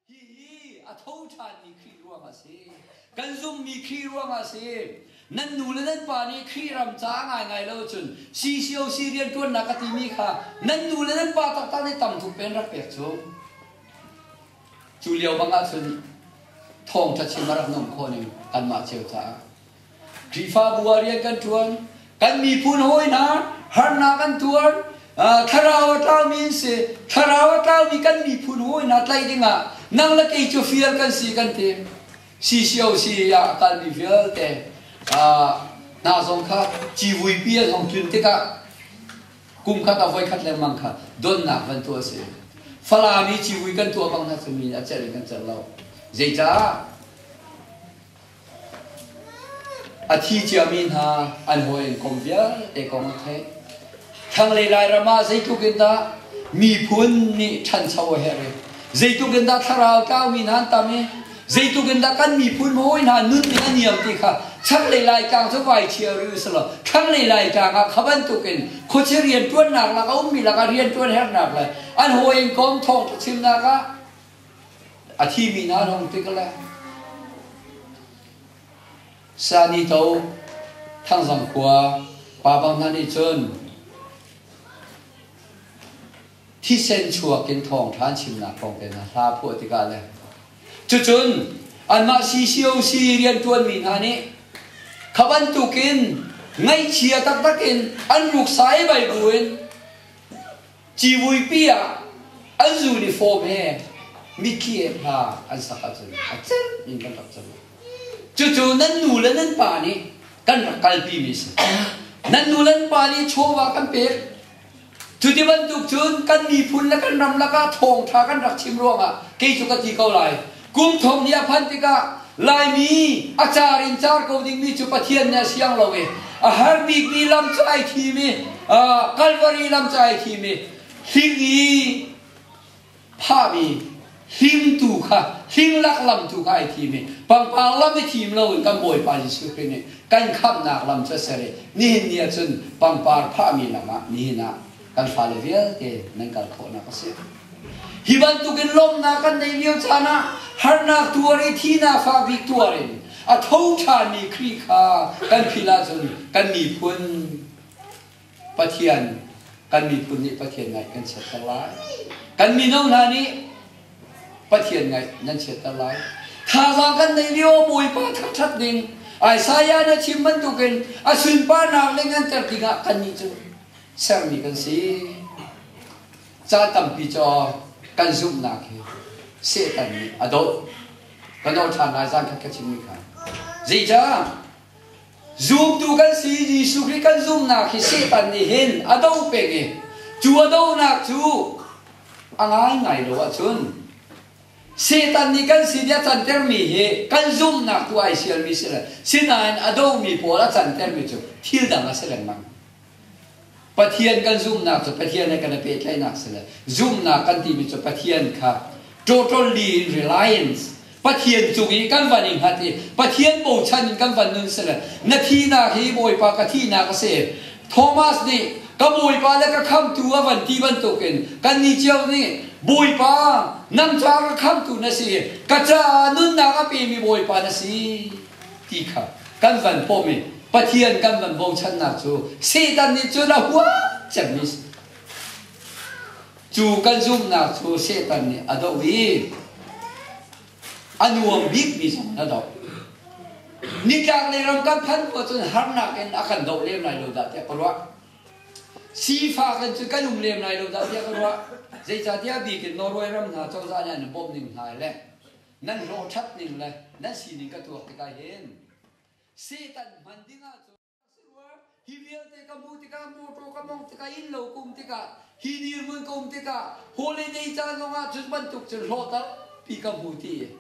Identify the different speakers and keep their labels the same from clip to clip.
Speaker 1: Hihi a tho ṭhanmi Khrih ruangah a si. Kan zummi Khrih ruangah a si. Nan nu le nan pa nih Khrih ram caah ngaingai lo cun CCOC rianṭuannak ka timi kha nan nu le nan pa taktak nih tam tuk pen rak pek cu. Cu lio bang ahcun thawngṭha chim a rak nung khawh ning kanmah cio caah Khrihfabu ah rian kan ṭuan. Kan miphun hawi hna harnak an tuar. Thlarau a tlaumi an si. Thlarau a tlaumi kan miphun hawi hna tlaih dingah nang le kei cu fial kan si kan ti. Si cio si ah a kalmi vialte hna zong kha civuipi a zong tlun tikah kum khat a voi khat lengmang kha donnak van tuah a si. Falam i civui kan tuah bang hna cu min a cerh in kan cer lo. Zeicah? A thi ciami hna an hawi an kom vialte kong a theih. Thlanglei Lairam ah zeitluk in dah miphun nih ṭhancho a herh i zeitluk in dah thlarau tlaumi hna an tam i zeitluk in dah kan miphun mawi hna nun nih a niam ti kha thlanglei Laitlang cu vai chia rih u si law thlanglei Laitlang ah kha bantuk in khuachia rianṭuannak lak a ummi lakah rianṭuan herhnak le an hawi in kom thawng chimnak ah A thimi hna zong tik le Sanito Thangzang khua pabang hna nih cun thisen chuak in thawng ṭha an chimnak kong te hna hla phuah tikah le cucun anmah CCOC rianṭuanmi hna nih kha bantukin ngaihchia taktak in an ruk sai baibu in Civuipi ah an uniform he mitthli ek hna an sak ahcun a celh in kan rak cang. Cucu nan nu le nan pa nih kan rak kalpi mi si. Nan nu le nan pa nih chawva kan pek. Cu ti bantuk cun kan miphun le kan ram lakah thawngtha kan rak chim ruangah kei cu ka ti ko lai. Kum thong hnih a phanh tikah Laimi a car in car ko dingmi cu Pathian nih a siang lo i a har bikmi lam cu ai thim i Kalvari lam cu ai thim i hling i phahmi hlimtu kha hlinglak lam tu kha ai thim i pangpang lam i thim lo in kan Bawipa Jesuh Khrih nih kan khamhnak lam cu a ser i nihin ni ah cun pangpar phahmi lam ah nihin ah kan fale vialte nan kal khawhnak a si. Hi bantukin lawmhnak kan nei lio caan ah harnak tuar i thihnak fa bik tuar in a tho ṭhanmi Khrih kha kan phil ahcun kan miphun Pathian kan miphun nih Pathian ngaih kan chiatter lai. Kan mino hna nih Pathian ngaih nan chiatter lai. Thazaang kan nei lio Bawipa thangṭhat ding Isaiah na chim bantukin a sunparnak le nganter dingah kannih cu sermi kan si. Caan tampi cu kan zumhnak hi Satan nih a doh. Ka doh ṭhan lai zan khat ka chimmi kha. Zeicah? Zumtu kan si Jesuh Khrih kan zumhnak hi Satan nih hin a do peng i cu a donak cu a ngaingai lo ahcun Satan nih kan si a cantermi hi kan zumhnak tu ai sialmi si lai. Sinain a domi pawl a cantermi cu thil dang a si lengmang. Pathian kan zumhnak cu Pathian he kan i pehtlaihnak si le zumhnak kan timi cu Pathian kha totally in reliance Pathian cung i kan van i hngat i Pathian bochan in kan van nun si le na thihnak hi Bawipa ka thihnak a si Thomas nih ka Bawipa le ka khamtu a van ti bantukin kannih cio nih Bawipa nang ca ka khamtu na si ka caah nunnak a pemi Bawipa na si ti kha kan van pawm i Pathian kan van bochannak cu Satan nih cun a huat cemmi cu kan zumhnak cu Satan nih a doh i a nuam bikmi zong in a doh nitlaklei ram kan phan khawh cun harnak in a kan doh lem lai lo dah tiah ka ruah sifa kan cu kan um lem lai lo dah tiah ka ruah zeicahtiah bik in Norway ram hna cozah nih an i bawmh ning hna le Nan hlawhṭhat ning le nan sining ka tuak tikah hin Satan hman ding ahcun ka si rua. Hi vialte ka hmuh tikah, mawṭaw ka mawngh tikah, innlo ka um tikah, hi dirhmun ka um tikah, holiday caan zongah cu bantuk cun hlawhter pi ka hmu ti.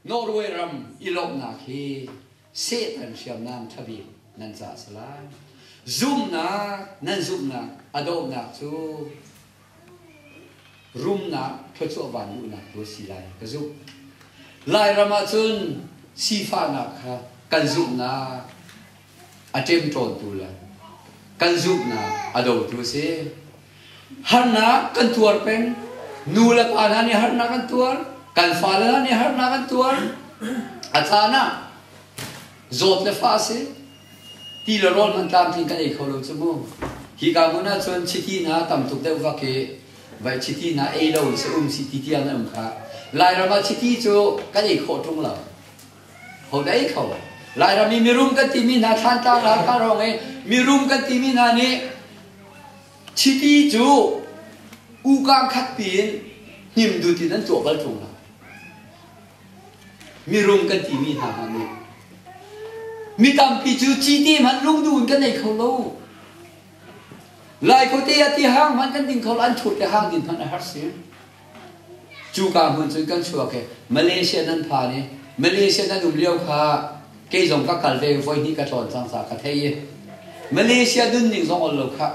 Speaker 1: Norway ram i lawmhnak hi Sehtan hriamnam ṭhabik nan cah a si lai. Zumhnak nan zumhnak a dohnak cu rumnak thluachuahvan duhnak tu a si lai ka zumh. Lairam ah cun sifahnak kha kan zumhnak a ṭemṭawntu le kan zumhnak a dotu a si. Harnak kan tuar peng. Nu le pa hna nih harnak an tuar. Kan fale hna nih harnak an tuar. A caan ah zawt le fah a si. Ti le rawl hman tlamtling kan ei kho lo cu mu. Hi ka hmun ah cun chiti na tam tuk deuh vak hi vai chiti na ei lo in se um si ti tiang na um kha. Lairam ah chiti cu kan ei khawh ṭung lo. Ho dei tho. Lairam i mirum kan timi hna thlantlak Hakha rawng i mirum kan timi hna nih chiti cu ukang khatpi in hnim dut in an tuah bal ṭung lo. Mirum kan timi hna hna nih mi tampi cu citi hmanh lungdu in kan ei kho lo. Lai khuate ati hang hmanh kan ding kho lo an ṭhut le hang din hmanh a har si. Cuka hmun cun kan chuak i Malaysia nan phan i Malaysia nan um lio kha kei zong ka kal ve voi hnih ka tlawn cang ca ka thei i Malaysia nunning zong ol lo khah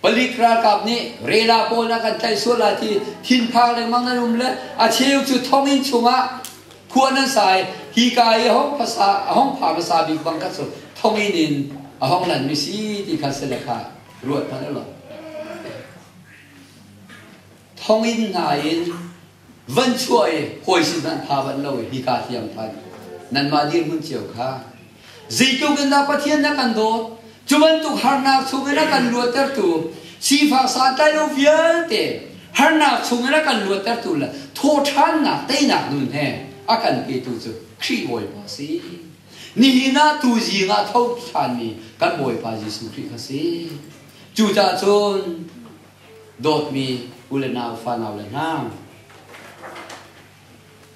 Speaker 1: palik ralkap nih rela pawl a kan tlaih sual lai ti thinphang lengmang nan um le a cheu cu thonginn chungah khua nan sa i hika i a hong phasa a hong pha hmasa bik bang kha cu thonginn in a hong lanmi si ti kha si le kha ruat hmanh u law. thonginn hna in van chuah i hawi sin nan pha bal lo i hika hliam phan nanmah dirhmun cio kha zeitluk in dah Pathian na kan dawt cu bantuk harnak chungin a kan luattertu sifak santlai lo vialte harnak chungin a kan luattertu le thawhṭhannak teinak nun he a kan petu cu Khrih Bawipa si nihin ah tu zing ah tho ṭhanmi kan Bawipa Jesuh Khrih kha si cucahcun dawtmi u le nau fanau le hna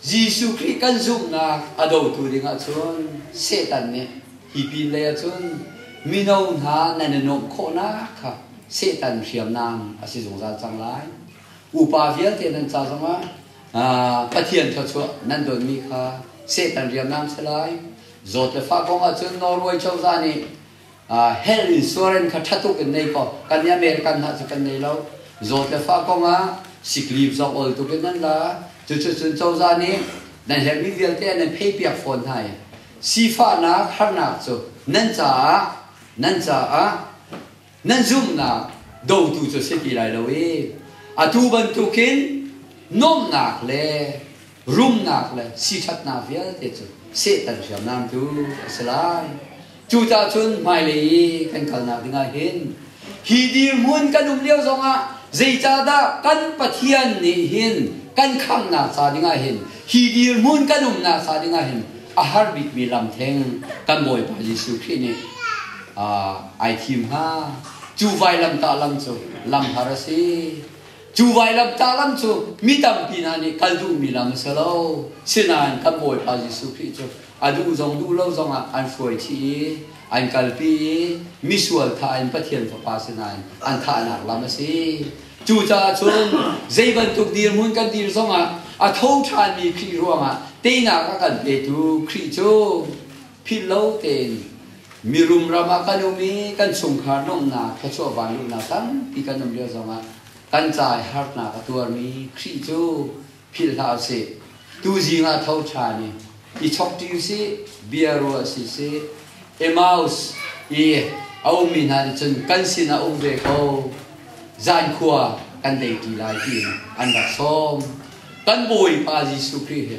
Speaker 1: Jesuh Khrih kan zumhnak a dotu ding ahcun Satan nih hi pin lei ahcun mino hna nan i nuamh khawhnak kha Satan hriamnam a si zungzal cang lai. Upa vialte nan ca zongah Pathian thluachuah nan donmi kha Satan hriamnam si lai. Zawt le fa kong ahcun Norway cozah nih health insurance kha ṭha tuk in nei kaw kan nih a meh le kan hna cu kan nei lo zawt le fa kong ah siklip zong ol tuk in nan la cucucun cozah nih nan herhmi vialte nan pheipiak fawn hna i sifahnak harnak cu nan caah nan caah nan zumhnak dotu cu si ti lai lo i atu bantukin nuamhnak le rumnak le siṭhatnak vialte cu Satan hriamnamtu a si lai. Cuticun hmailei i kan kalnak dingah hin hi dirhmun kan um lio zongah zeicahdah kan Pathian nih hin kan khamhnak ca dingah hin hi dirhmun kan umnak ca dingah hin a har bikmi lam theng kan Bawipa Jesuh Khrih nih aa ai thim hnga. Cu vailamtah lam cu lam har a si. Cu vailamtah lam cu mi tampi hna nih kal duhmi lam a si lo. Sinain kan Bawipa Jesuh Khrih cu a duh zong duh lo zongah an hruaiṭhi i an kalpi i misual tha in Pathian Fapa sinain an thahnak lam a si. Cucaah cun zei bantuk dirhmun kan dir zongah a tho ṭhanmi Khrih ruangah teinak a kan petu Khrih cu Philhlo tein mirum ram ah kan um i kan chungkhar nuamhnak thluachuah vanluhnak tampi kan um lio zongah kan cai harnak a tuarmi Khrih cu philh hlah usih. Tuzing ah tho ṭhan i i chokṭi usih, bia ruah si usih. Emmaus i a ummi hna nih cun kan sinah um ve ko, zan khua kan dei ṭi lai tiin an rak sawm. Kan Bawipa Jesuh Khrih hi